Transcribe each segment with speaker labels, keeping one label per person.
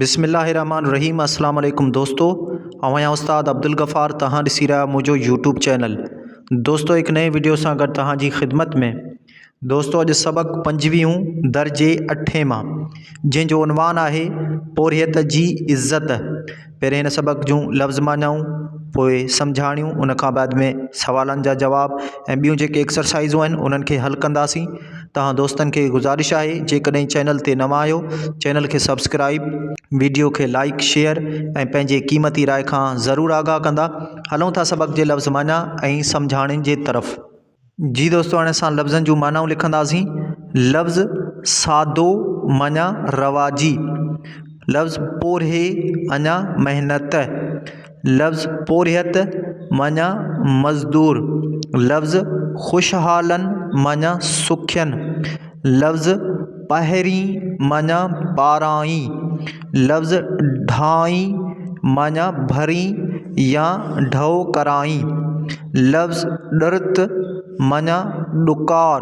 Speaker 1: بسم الله الرحمٰن الرحيم اسلام عليڪم دوستو اوهان يا استاد عبدالغفار تهان ڏسي رهيا منهنجو يوٽيوب چينل دوستو هڪ نئين وڊيو سان گڏ تهان جي خدمت ۾ دوستو اڄ سبق پنجويهون درجي اٺين مان جنهن جو عنوان آهي پورهيت جي عزت پهرين هن سبق جون لفظ مانيائون پوء سمجهاڻيون ان کان بعد ۾ سوالن جا جواب ۽ ٻيون جيڪي ايڪسرسائزون آهن انهن کي حل ڪنداسين توهان دوستن کي گذارش آهي جيڪڏهن چينل تي نوان آهيو چينل کي سبسڪرائب ويڊيو کي لائڪ شيئر ۽ پنهنجي قيمتي راء کان ضرور آگاهه ڪندا هلون ٿا سبق جي لفظ معنيٰ ۽ سمجهاڻين جي طرف جي دوستو هاڻي اسان لفظن جون معنائون لکنداسين لفظ سادو معنيٰ رواجي لفظ پورهي اڃا محنت لفظ پورهيت معنيٰ مزدور، لفظ خوشحالن معنيٰ سکين، لفظ پهرين معنيٰ پارائين، لفظ ڍائين معنيٰ ڀرين يا ڍؤ ڪرائين، لفظ ڏرت معنيٰ ڏڪار،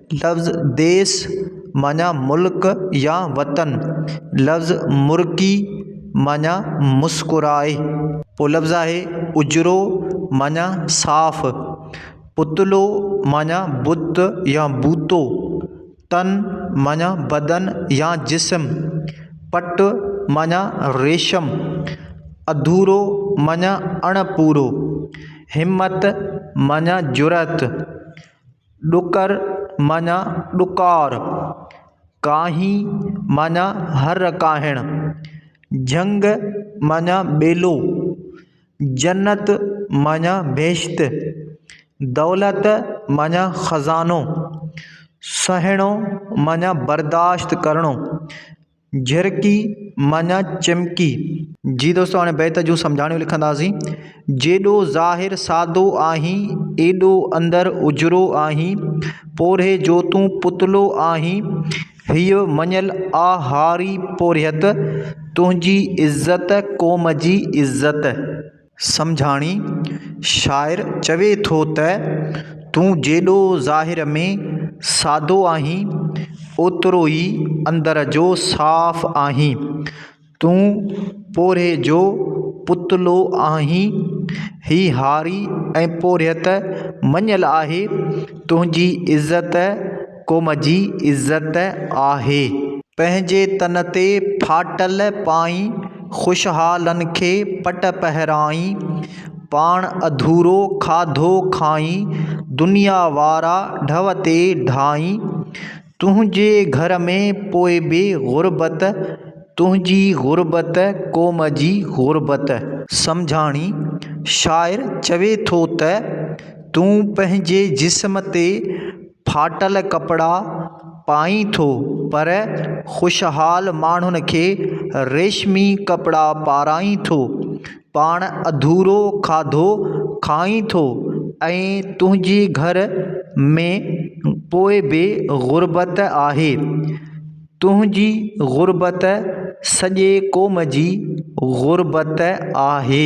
Speaker 1: لفظ ديس معنيٰ ملڪ يا وطن لفظ مرڪي معنيٰ مسڪرائي پوء لفظ آهي اجرو معنيٰ صاف پتلو معنيٰ بت يا بوتو تن معنيٰ بدن يا جسم پٽ معنيٰ ريشم اڌورو معنيٰ اڻ پورو همت معنيٰ جرئت ڏڪر معنيٰ ڏڪار، ڪاهي معنيٰ هر ڪاهڻ، جهنگ معنيٰ ٻيلو، جنت معنيٰ بهشت، دولت معنيٰ خزانو، سهڻو معنيٰ برداشت ڪرڻو جهرڪي معنيٰ چمڪي. جي دوستو هاڻي بيت جون سمجهاڻيون لکنداسين. جيڏو ظاهر سادو آهين، ايڏو اندر اجرو آهين، پورهيي جو تون پتلو آهين، هيء مڃيل آ هاري پورهيت، تنهنجي عزت قوم جي عزت. سمجهاڻي، شاعر چوي ٿو ته، تون جيڏو ظاهر ۾ سادو آهين، اوترو ئي اندر جو صاف آهين. تون پورهيي جو پتلو آهين. هي هاري ۽ پورهيت مڃيل آهي. تنهنجي عزت قوم جي عزت آهي. پنهنجي تن تي ڦاٽل پائين، خوشحالن کي پٽ پهرائين، پاڻ اڌورو کاڌو کائين، دنيا وارا ڍؤ تي ڍائين، تنهنجي گهر ۾ پوء به غربت، تنهنجي غربت قوم جي غربت. سمجهاڻي، شاعر چوي ٿو ته تون پنهنجي جسم تي ڦاٽل ڪپڙا پائين ٿو پر خوشحال ماڻهن کي ريشمي ڪپڙا پارائين ٿو پاڻ اڌورو کاڌو کائين ٿو ۽ تنهنجي گهر ۾ پوء به غربت آهي تنهنجي غربت سڄي قوم جي غربت آهي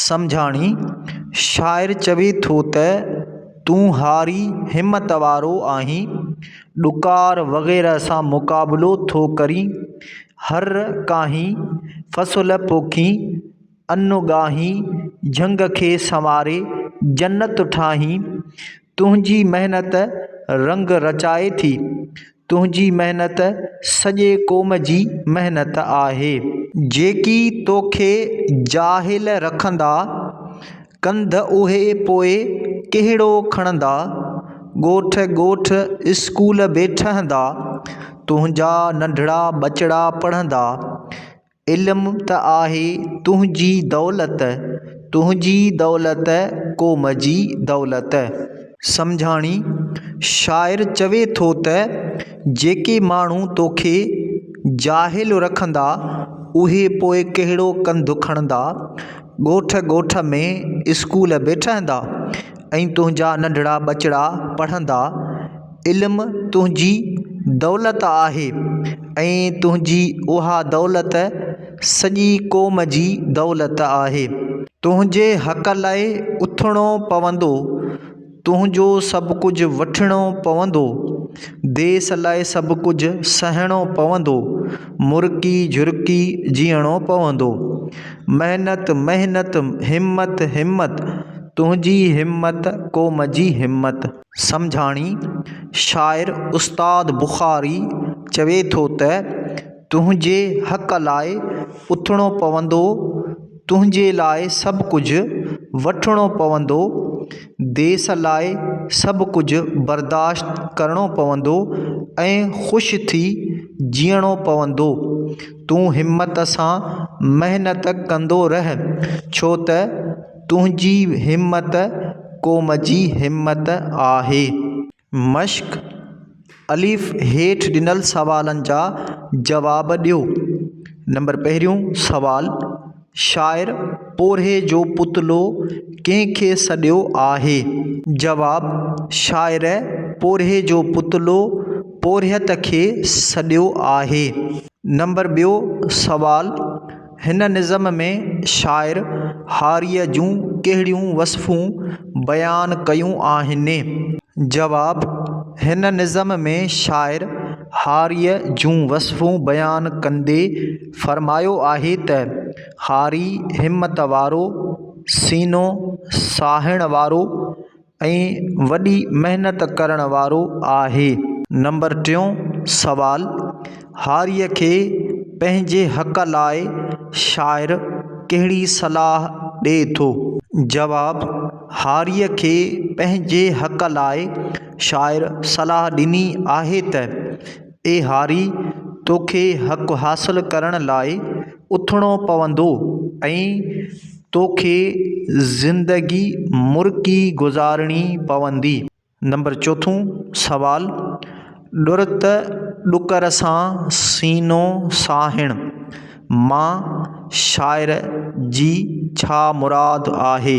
Speaker 1: سمجهاڻي، شاعر چوي ٿو ته، تون هاري همت وارو آهين، ڏڪار وغيره سان مقابلو ٿو ڪرين، هر ڪاهين فصل پوکين، ان ڳاهين جهنگ کي سنواري جنت ٺاهين، تنهنجي محنت رنگ رچائي ٿي، تنهنجي محنت سڄي قوم جي محنت آهي. جيڪي توکي جاهل رکندا، ڪنڌ اهي پوء ڪهڙو کڻندا. ڳوٺ ڳوٺ اسڪول به ٺهندا، تنهنجا ننڍڙا ٻچڙا پڙهندا. علم ته آهي تنهنجي دولت، تنهنجي دولت قوم جي دولت. سمجهاڻي، شاعر چوي ٿو ته جيڪي ماڻهو توکي جاهل رکندا اهي پوء ڪهڙو ڪنڌ کڻندا، ڳوٺ ڳوٺ ۾ اسڪول به ٺهندا ۽ تنهنجا ننڍڙا ٻچڙا پڙهندا، علم تنهنجي دولت آهي ۽ تنهنجي اها دولت سڄي قوم جي دولت آهي. تنهنجي حق لاء اٿڻو پوندو، تنهنجو سڀ ڪجهه وٺڻو پوندو، ديس لاء سڀ ڪجهه سهڻو پوندو، مرڪي جهرڪي جيئڻو پوندو. محنت محنت، همت همت، تنهنجي همت قوم جي همت. سمجهاڻي، شاعر استاد بخاري چوي ٿو ته، تنهنجي حق لاء اٿڻو پوندو، تنهنجي لاء سڀ ڪجهه وٺڻو پوندو، ديس لاء سڀ ڪجهه برداشت ڪرڻو پوندو ۽ خوش ٿي جيئڻو پوندو. تون همت سان محنت ڪندو رهه، ڇو ته. تنهنجي همت قوم جي همت آهي. مشق، الف هيٺ ڏنل سوالن جا جواب ڏيو. نمبر پهريون سوال، شاعر پورهيي جو پتلو ڪنهن کي سڏيو آهي؟ جواب، شاعر پورهيي جو پتلو پورهيت کي سڏيو آهي. نمبر ٻيو سوال، هن نظم ۾ شاعر هاريء جون ڪهڙيون وصفون بيان ڪيون آهن؟ جواب، هن نظم ۾ شاعر هاريء جون وصفون بيان ڪندي فرمايو آهي ته، هاري همت وارو، سينو ساهڻ وارو، ۽ وڏي محنت ڪرڻ وارو آهي. نمبر ٽيون سوال، هاريء کي پنهنجي حق لاء شاعر ڪهڙي صلاح ڏئي ٿو؟ جواب، هاريء کي پنهنجي حق لاء شاعر صلاح ڏني آهي ته، اي هاري! توکي حق حاصل ڪرڻ لاء اٿڻو پوندو ۽ توکي زندگي مرڪي گذارڻي پوندي. نمبر چوٿون سوال، ڏرت ڏڪر سان سينو ساهڻ مان شاعر جي ڇا مراد آهي؟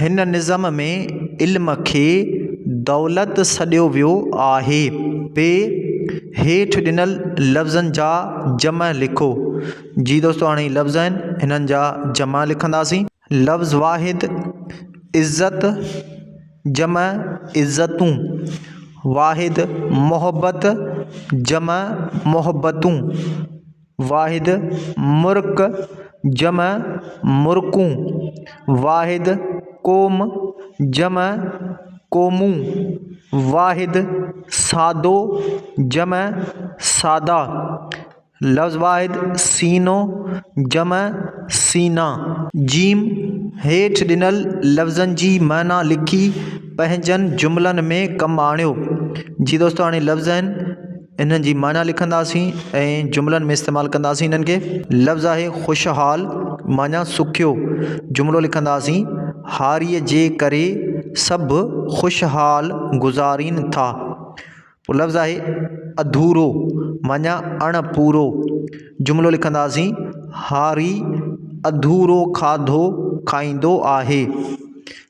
Speaker 1: هن نظم ۾ علم کي دولت سڏيو ويو آهي. ب، هيٺ ڏنل لفظن جا جمع لکو. جي دوستو هاڻي هي لفظ آهن هنن جا جمع لکنداسين. لفظ واحد، عزت، جمع، عزتون، واحد، محبت، جمع، محبتون. واحد، مرڪ، جمع، مرڪون، واحد، قوم، جمع، قومون، واحد، سادو، جمع، سادا، لفظ واحد، سينو، جمع، سينا. ج هيٺ ڏنل لفظن جي معنيٰ لکي پنهنجن جملن ۾ ڪم آڻيو. جي دوستو هاڻي لفظ آهن. انهن جي معنيٰ لکنداسين ۽ جملن ۾ استعمال ڪنداسين انهن کي لفظ آهي خوشحال معنيٰ سکيو جملو لکنداسين هاريء جي ڪري سڀ خوشحال گذارين ٿا پوء لفظ آهي اڌورو معنيٰ اڻ پورو جملو لکنداسين هاري اڌورو کاڌو کائيندو آهي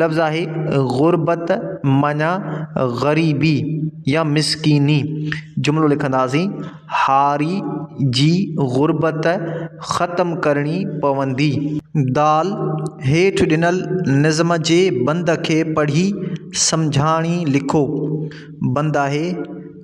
Speaker 1: لفظ آهي غربت معنيٰ غريبي يا مسڪيني. جملو لکنداسين، هاري جي غربت ختم ڪرڻي پوندي. دال، هيٺ ڏنل نظم جي بند کي پڙهي سمجهاڻي لکو. بند آهي.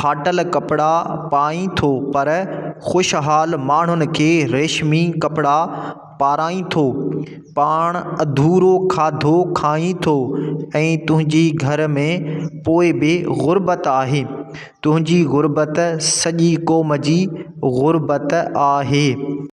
Speaker 1: ڦاٽل ڪپڙا پائين ٿو پر خوشحال ماڻهن کي ريشمي ڪپڙا پارائين ٿو. پاڻ اڌورو کاڌو کائين ٿو ۽ تنهنجي گهر ۾ پوء به غربت آهي. تنهنجي غربت سڄي قوم جي غربت آهي.